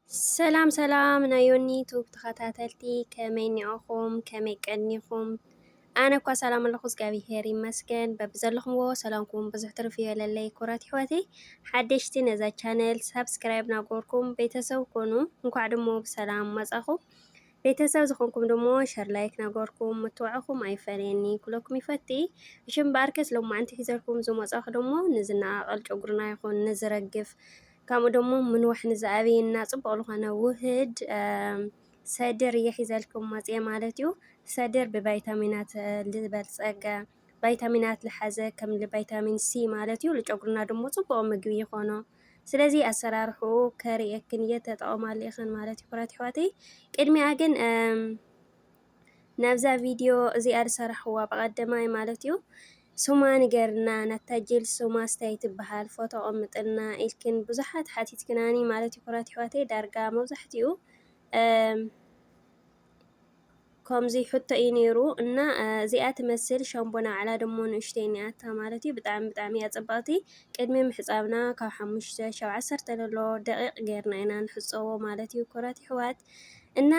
ሰላም ሰላም ናይ ዮኒ ቱብ ተኸታተልቲ ከመይ ኒዖኹም ከመይ ቀኒኹም ኣነ እኳ ሰላም ኣለኹ እግዚኣብሄር ይመስገን በብዘለኹምዎ ሰላምኩም ብዙሕ ትርፍ ይበለለይ ኩራት ይሕወተይ ሓደሽቲ ነዛ ቻነል ሳብስክራይብ ናጎርኩም ቤተሰብ ኮኑ እንኳዕ ድሞ ብሰላም መጻኹም ቤተሰብ ዝኾንኩም ድሞ ሸር ላይክ ናጎርኩም ምትዋዕኹም ኣይፈለየኒ ኩለኩም ይፈቲ እሽም በኣርከስ ሎማዕንቲ ሒዘልኩም ዝመጻኹ ድሞ ንዝነቓቐል ጨጉርና ይኹን ንዝረግፍ ከምኡ ደሞ ምንዋሕ ንዝኣበየና ጽቡቕ ዝኾነ ውህድ ሰድር እየ ሒዘልኩም መጽየ ማለት እዩ። ሰድር ብቫይታሚናት ዝበልጸገ ቫይታሚናት ዝሓዘ ከም ቫይታሚን ሲ ማለት እዩ። ንጨጉርና ደሞ ጽቡቕ ምግቢ ይኾኖ። ስለዚ ኣሰራርሕኡ ከርእየክን እየ ተጠቐማሉ ኢኽን ማለት እዩ ክብራት ኣሕዋተይ። ቅድሚኣ ግን ናብዛ ቪድዮ እዚኣ ዝሰራሕዋ ብቀደማይ ማለት እዩ ሱማ ንገርና ናታ ጅል ሱማ ስታይ ትበሃል ፎቶ ቀምጥልና ኢልክን ብዙሓት ሓቲትክናኒ ማለት እዩ ኩራት ይሕዋተይ ዳርጋ መብዛሕትኡ ከምዚ ሕቶ እዩ ነይሩ እና እዚኣ ትመስል ሸምቦ ናዕላ ድሞ ንእሽተይ እኒኣታ ማለት እዩ ብጣዕሚ ብጣዕሚ እያ ፅብቕቲ ቅድሚ ምሕፃብና ካብ ሓሙሽተ ሸብ ዓሰርተ ዘሎ ደቂቕ ገይርና ኢና ንሕፀቦ ማለት እዩ ኩራት ይሕዋት እና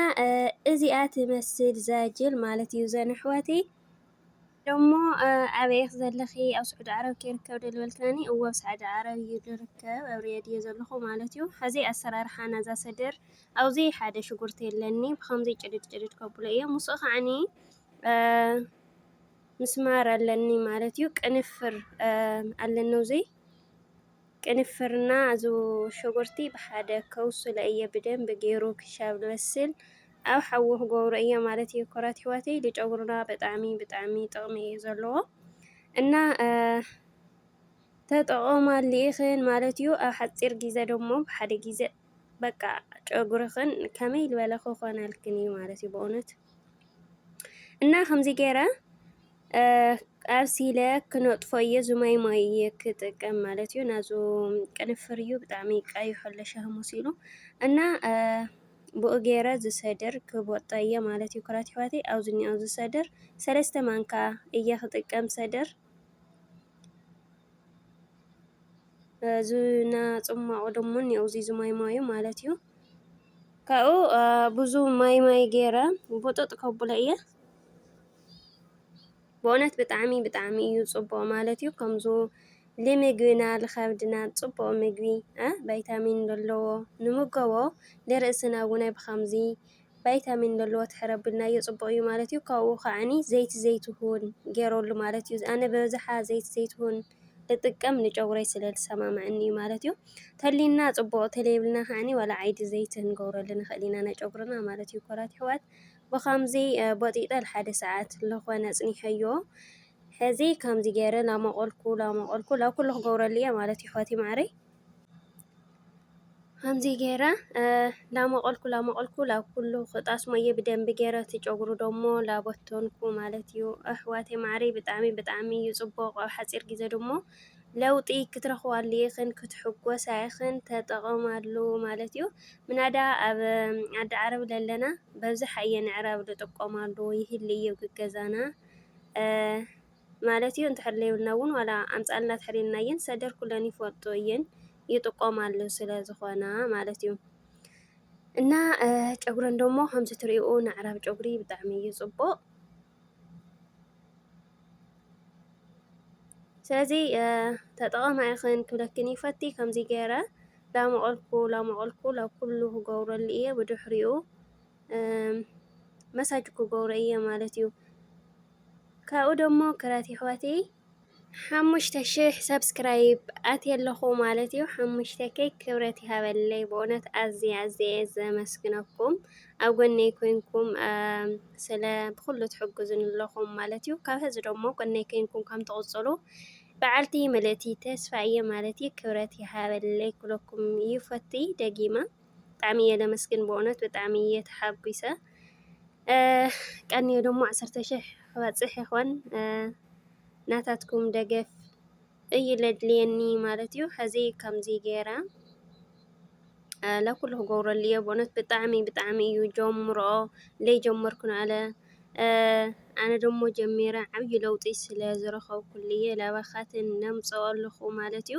እዚኣ ትመስል ዛጅል ማለት እዩ ዘን ኣሕዋተይ ደሞ ኣበይ ኢኺ ዘለኺ ኣብ ስዑዲ ዓረብ ክርከብ ደልበልካኒ እወ ኣብ ስዑዲ ዓረብ እዩ ዝርከብ ኣብ ሪያድ እየ ዘለኹ ማለት እዩ ሐዚ ኣሰራርሓ ናዛ ሰደር ኣብዚ ሓደ ሽጉርቲ የለኒ ብከምዚ ጭድድ ጭድድ ከብሎ እየ ምስኡ ከዓኒ ምስማር ኣለኒ ማለት እዩ ቅንፍር ኣለኒ ውዘይ ቅንፍርና ኣዚ ሸጉርቲ ብሓደ ከውስሎ እየ ብደንቢ ገይሩ ክሻብ ልበስል ኣብ ሓዊ ክገብሮ እየ ማለት እየ ኮራት ይሕዋተይ ልጨጉርና ብጣዕሚ ብጣዕሚ ጥቕሚ እዩ ዘለዎ እና ተጠቐማሉ ኢኽን ማለት እዩ ኣብ ሓፂር ግዜ ደሞ ብሓደ ግዜ በቃ ጨጉርኽን ከመይ ዝበለ ክኾነልክን እዩ ማለት እዩ በእውነት እና ከምዚ ገይረ ኣብሲለ ክነጥፎ እየ እዚ ማይ ማይ እየ ክጥቀም ማለት እዩ ናዙ ቅንፍር እዩ ብጣዕሚ ቀይሖ ኣሎ ሻሂ መሲሉ እና ብኡ ገይረ ዝሰድር ክቦጠ እየ ማለት እዩ ክራት ይሕዋቴ ኣብዚ እኒኦ ዝሰድር ሰለስተ ማንካ እየ ክጥቀም ሰድር ዝና ፅሟቑ ድሞ እኒኦ እዚ ዝማይ ማዩ ማለት እዩ ካብኡ ብዙ ማይ ማይ ገይረ ቡጥጥ ከብሎ እየ በእውነት ብጣዕሚ ብጣዕሚ እዩ ፅቡቅ ማለት እዩ ከምዚ ልምግብና ልከብድና ፅቡቅ ምግቢ ባይታሚን ለለዎ ንሙገቦ ልርእስና እውን ብከምዚ ባይታሚን ለለዎ ተሐረ ኣብልናዮ ፅቡቅ እዩ ማለት እዩ ካብኡ ከዓኒ ዘይቲ ዘይትሁን ገይረሉ ማለት እዩ ኣነ በብዛሓ ዘይቲ ዘይትሁን ልጥቀም ንጨጉረይ ስለ ልሰማማዐኒ እዩ ማለት እዩ ተልዩና ፅቡቅ ተለይብልና ከዓኒ ዋላ ዓይዲ ዘይቲ ክንገብረሉ ንክእል ኢና ናይ ጨጉርና ማለት እዩ ኮራት የሕዋት ብኸምዚ ቦጢጠ ልሓደ ሰዓት ልኾነ ኣጽኒሐዮ ሕዚ ከምዚ ገይረ ላሞቆልኩ ላሞቆልኩ ላብ ኩሉ ክገብረሉ እየ ማለት እዩ ሕዋተይ ማዓረይ ከምዚ ገይረ ላሞቆልኩ ላሞቆልኩ ላብ ኩሉ ክጣስሞ እየ ብደንቢ ገይረ እቲ ጨጉሩ ደሞ ላበተንኩ ማለት እዩ ኣሕዋተይ ማዓረይ ብጣዕሚ ብጣዕሚ እዩ ጽቡቕ ኣብ ሓጺር ግዜ ድሞ ለውጢ ክትረኽባሉ ኢኽን ክትሕጎሳ ኢኽን ተጠቐማሉ ማለት እዩ። ምናዳ ኣብ ዓዲ ዓረብ ለለና በብዝሕ ኣየ ንዕራብ ንጥቀማሉ ይህሊ እዩ ግገዛና ማለት እዩ። እንተሕር ለይብልና እውን ዋላ ኣምፃልና ትሕሪልና እየን ሰደርኩለን ይፈልጡ እየን ይጥቀማሉ ስለ ዝኾና ማለት እዩ። እና ጨጉረን ደሞ ከምዚ ትሪኡ ንዕራብ ጨጉሪ ብጣዕሚ እዩ ፅቡቕ። ስለዚ ተጠቐማ ኢኽን ክብለክን ይፈቲ ከምዙይ ገይረ ላመቐልኩ ላመቐልኩ ላብ ኲሉ ክገብረሉ እየ ብድኅሪኡ መሳጅኩ ገብረ እየ ማለት እዩ ካብኡ ደሞ ክራቲሕዋተይ ሓሙሽተ ሽሕ ሰብስክራይብ ኣትየ ኣለኹ ማለት እዩ። ሓሙሽተ ከይ ክብረት ይሃበለይ ብእውነት ኣዝየ ኣዝየ እየ ዘመስግነኩም ኣብ ጎነይ ኮይንኩም ስለ ብኩሉ ትሕግዙኒ ኣለኹም ማለት እዩ። ካብ ሕዚ ደሞ ጎነይ ኮይንኩም ከም ትቕጽሉ በዓልቲ ምልእቲ ተስፋ እየ ማለት እዩ። ክብረት ይሃበለይ ኩለኩም ይፈትይ ደጊማ ብጣዕሚ እየ ለመስግን ብእውነት ብጣዕሚ እየ ተሓጒሰ። ቀንዮ ደሞ ዓሰርተ ሽሕ ክበጽሕ ይኾን ናታትኩም ደገፍ እዩ ለድልየኒ ማለት እዩ ሕዚ ከምዚ ገይረ ለኩሉ ክገብረሉ እዮ ብእነት ብጣዕሚ ብጣዕሚ እዩ ጀምሮ ለይጀመርኩ ንኣለ ኣነ ደሞ ጀሚረ ዓብዪ ለውጢ ስለ ዝረኸብኩሉ እየ ላባኻትን ነምፅኦ ኣለኹ ማለት እዩ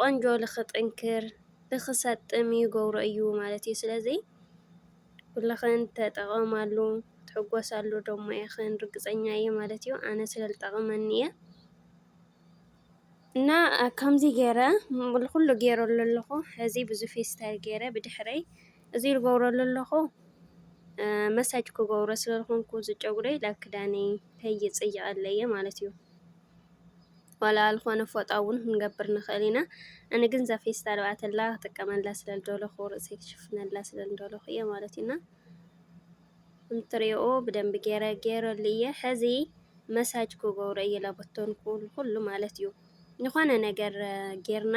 ቆንጆ ልክጥንክር ልክሰጥም ይገብሮ እዩ ማለት እዩ። ስለዚ ኩልኽን ተጠቐማሉ ትሕጎሳሉ ደሞ ኢኽን ርግፀኛ እየ ማለት እዩ። ኣነ ስለ ልጠቕመኒ እየ። እና ከምዚ ገይረ ኩሉ ገይረሉ ኣለኹ ሕዚ ብዙ ፌስታል ገይረ ብድሕረይ እዚ ልገብረሉ ኣለኹ መሳጅ ክገብሮ ስለ ዝኾንኩ እዚ ጨጉረይ ላብ ክዳነይ ከይፅይቐለይ ማለት እዩ። ዋላ ልኾነ ፎጣውን ክንገብር ንኽእል ኢና እን ግን ዛፌስታል ብኣተላ ክጥቀመላ ስለ ልደለኹ ርእሰይ ክሽፍነላ ስለ ልደለኹ እየ ማለት ኢና እንትሪኦ ብደንቢ ገይረ ገይረሉ እየ ሕዚ መሳጅ ክገብሮ እየ ላቦቶን ኩሉ ማለት እዩ ዝኾነ ነገር ጌርና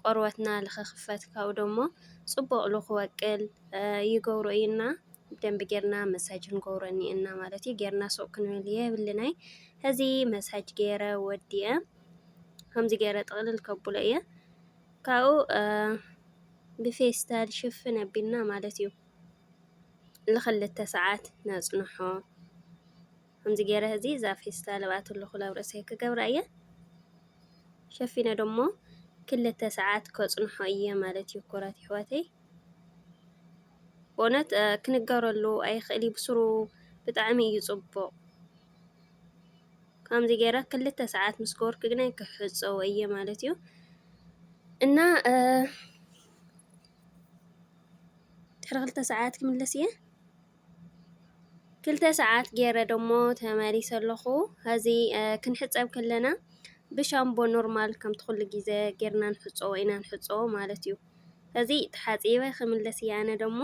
ቆርበትና ልኽኽፈት ካብኡ ደሞ ጽቡቕ ልኽወቅል ይገብሮ እዩና ብደንቢ ጌርና መሳጅ ክንገብሮ እኒኤና ማለት እዩ። ጌርና ሱቕ ክንብል የብልናይ። ሕዚ መሳጅ ገይረ ወዲአ ከምዚ ገይረ ጥቕልል ከብሎ እየ ካብኡ ብፌስታል ሽፍን ኣቢልና ማለት እዩ ንኽልተ ሰዓት ነጽንሖ። ከምዚ ገይረ እዚ እዛ ፌስታል ኣብኣቶ ኣለኹ ኣብ ርእሰይ ክገብራ እየ ሸፊነ ደሞ ክልተ ሰዓት ከጽንሖ እየ ማለት እዩ ኮራት ይሕዋተይ ብእውነት ክንገረሉ ኣይኽእል እዩ ብስሩ ብጣዕሚ እዩ ጽቡቕ ከምዚ ገይረ ክልተ ሰዓት ምስ ገበርኩ ግና ክሕጸዎ እየ ማለት እዩ እና ድሕሪ ክልተ ሰዓት ክምለስ እየ ክልተ ሰዓት ገይረ ደሞ ተመሊሰ ኣለኹ ሀዚ ኽንሕፀብ ከለና ብሻምቦ ኖርማል ከምቲ ኹሉ ግዘ ገይርና ንሕፀቦ ኢና ንሕፀቦ ማለት እዩ ሀዚ ተሓፂበ ኽምለስ እየ ኣነ ደሞ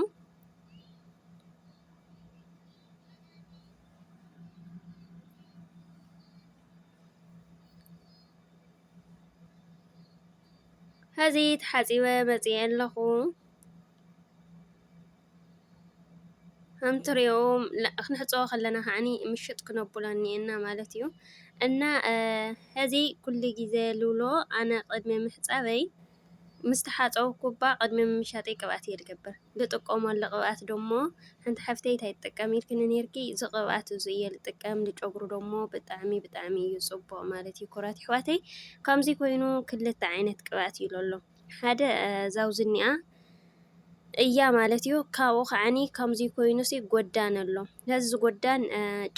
ሀዚ ተሓፂበ መፂአ ኣለኹ ከም ትሪኦ ክንሕፀቦ ከለና ከዓ ምሽጥ ክነብሎ እኒኤና ማለት እዩ። እና ሕዚ ኩሉ ግዘ ልብሎ ኣነ ቅድሚ ምሕፃበይ ምስ ተሓፀብኩ እባ ቅድሚ ምሻጠይ ቅብኣት እየ ዝገብር። ዝጥቀመሉ ቅብኣት ደሞ ሓንቲ ሓፍተይ እንታይ ትጥቀም ኢልክኒ ነይርኪ እዚ ቅብኣት እዚ እየ ዝጥቀም ንጨጉሪ ደሞ ብጣዕሚ ብጣዕሚ እዩ ፅቡቕ ማለት እዩ። ክቡራት ኣሕዋተይ ከምዚ ኮይኑ ክልተ ዓይነት ቅብኣት እዩ ለሎ። ሓደ ዛውዝኒኣ እያ ማለት እዩ። ካብኡ ከዓኒ ከምዚ ኮይኑ ሲ ጎዳን ኣሎ ነዚ ጎዳን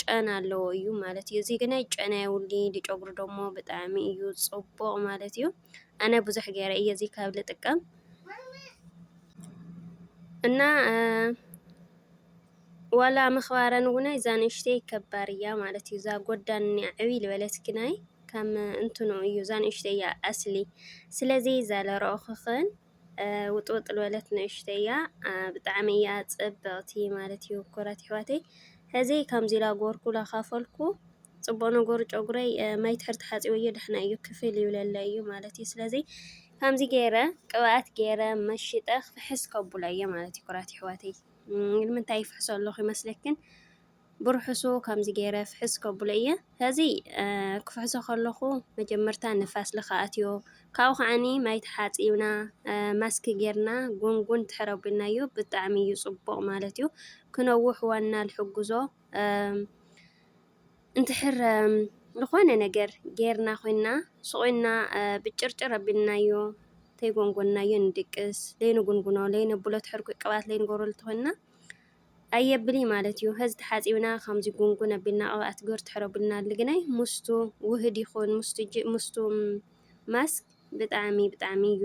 ጨና ኣለዎ እዩ ማለት እዩ። እዚ ግናይ ጨና የውሊ ንጨጉሪ ደሞ ብጣዕሚ እዩ ጽቡቕ ማለት እዩ። ኣነ ብዙሕ ገይረ እየ እዚ ካብ ልጥቀም እና ዋላ ምክባረን ውነይ እዛ ንእሽተይ ከባር እያ ማለት እዩ እዛ ጎዳን እኒኣ ዕብይ ልበለት ግናይ ከም እንትኑ እዩ እዛ ንእሽተይ እያ ኣስሊ ስለዚ እዛ ለረኦክኽን ውጥውጥ ልበለት ንእሽተይ እያ ብጣዕሚ እያ ፅብቕቲ ማለት እዩ ኩራት ይሕዋተይ ሕዚ ከምዚ ኢላ ጎርኩ ላካፈልኩ ፅቡቅ ነገሩ ጨጉረይ ማይ ትሕር ተሓፂበዮ ደሕና እዩ ክፍል ይብለለ እዩ ማለት እዩ ስለዚ ከምዚ ገይረ ቅብኣት ገይረ መሽጠ ክፍሕስ ከቡላ እየ ማለት እዩ ኩራት ይሕዋተይ ንምንታይ ይፍሕሶ ኣለኹ ይመስለክን? ብርሑሱ ከምዚ ገይረ ፍሕስ ከብሎ እየ። ከዚ ክፍሕሶ ከለኹ መጀመርታ ንፋስ ልኸ ኣትዮ ካብኡ ከዓኒ ማይ ተሓፂብና ማስክ ጌርና ጉንጉን ድሕር ኣቢልናዮ ብጣዕሚ እዩ ፅቡቕ ማለት እዩ። ክነውሕ ዋና ልሕግዞ እንድሕር ዝኾነ ነገር ጌርና ኮይና ስቑኢልና ብጭርጭር ኣቢልናዮ ተይጎንጎንናዮ ንድቅስ ለይንጉንጉኖ ለይነብሎ ትሕርኩይ ቅብኣት ለይንገብረሉ እንተኾይንና ኣየብል እዩ ማለት እዩ። ሀዚ ተሓፂብና ከምዚ ጉንጉን ኣቢልና ቅብኣት ግበር ትሕር ኣቢልና ልግናይ ምስቱ ውህድ ይኹን ምስቱ ማስክ ብጣዕሚ ብጣዕሚ እዩ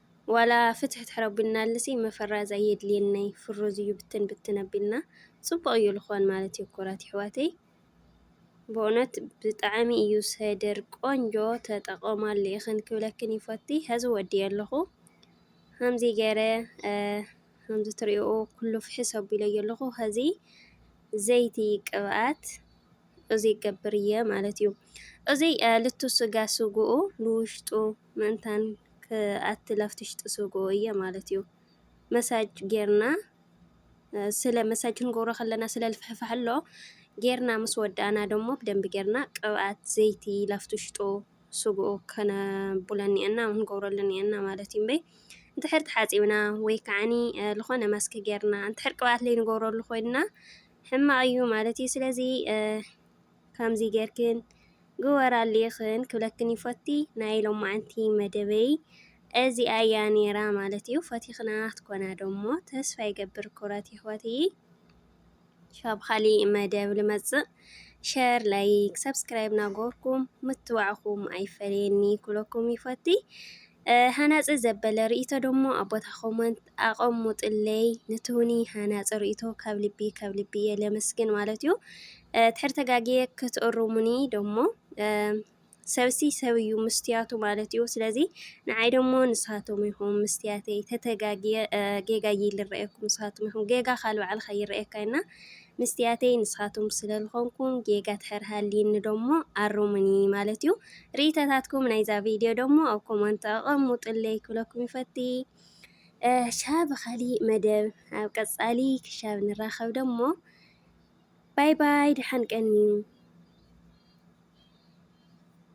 ዋላ ፍትሕ ትሕረቡናልሲ መፈራዝ ኣየድልየንይ ፍሩዝ እዩ ብትን ብትን ኣቢልና ጽቡቕ እዩ ልኾን ማለት እዩ ኩራት ይሕዋተይ ብኡነት ብጣዕሚ እዩ ሰድር ቆንጆ ተጠቐማሉ ኢኽን ክብለክን ይፈቲ ሀዚ ወዲየ ኣለኹ ሃምዚ ገረ ሃምዚ ትሪኦ ኩሉ ፍሕስ ኣቢለዮ ኣለኹ ሀዚ ዘይቲ ቅብኣት እዙይ ይገብር እየ ማለት እዩ። እዙይ ልቱ ስጋ ስጉኡ ንውሽጡ ምእንታን ክኣቲ ላፍቲ ውሽጢ ስጉኡ እየ ማለት እዩ። መሳጅ ጌርና ስለ መሳጅ ክንገብሮ ከለና ስለ ልፍሕፋሕ ኣሎ ጌርና ምስ ወዳእና ደሞ ብደንቢ ጌርና ቅብኣት ዘይቲ ላፍቲ ውሽጡ ስጉኡ ከነቡለኒ እና ክንገብረሉኒ እና ማለት እዩ እምበይ እንድሕር ተሓፂብና ወይ ከዓኒ ዝኾነ ማስክ ጌርና እንድሕር ቅብኣት ለይንገብረሉ ኮይንና ሕማቅ እዩ ማለት እዩ ስለዚ ከምዚ ጌርክን ግበር ኣልኢኽን ክብለክን ይፎቲ ናይ ሎማዓንቲ መደበይ እዚኣ እያ ኔራ ማለት እዩ ፈቲኽና ክትኮና ዶሞ ተስፋ ይገብር ኩረት ይሕዋትይ ሻብ ኻሊእ መደብ ልመጽእ ሸር ላይክ ሰብስክራይብ ናጎርኩም ምትባዕኹም ኣይፈለየኒ ኩለኩም ይፈቲ ሃናጺ ዘበለ ርኢቶ ደሞ ኣብ ቦታ ኮመንት ኣቀሙጥለይ ንትውኒ ሃናጺ ርኢቶ ካብ ልቢ ካብ ልቢ እየ ለመስግን ማለት እዩ ትሕር ተጋግየ ክትእሩሙኒ ደሞ ሰብሲ ሰብ እዩ ምስትያቱ ማለት እዩ ስለዚ ንዓይ ደሞ ንሳቶም ይኹም ምስትያተይ ተተጋግየ ጌጋ ይልረአኩም ንሳቶም ይኹም ጌጋ ካል በዓልካ ይረአየካ እና ምስትያተይ ንስኻትኩም ስለ ልኾንኩም ጌጋ ድሕር ሃልይኒ ደሞ ኣሩሙኒ ማለት እዩ ርኢተታትኩም ናይዛ ቪድዮ ደሞ ኣብ ኮመንት ኣቐሙጥለይ ክብለኩም ይፈቲ ሻብ ኻሊእ መደብ ኣብ ቀጻሊ ክሻብ ንራኸብ ደሞ ባይ ባይ ድሓን ቀንዩ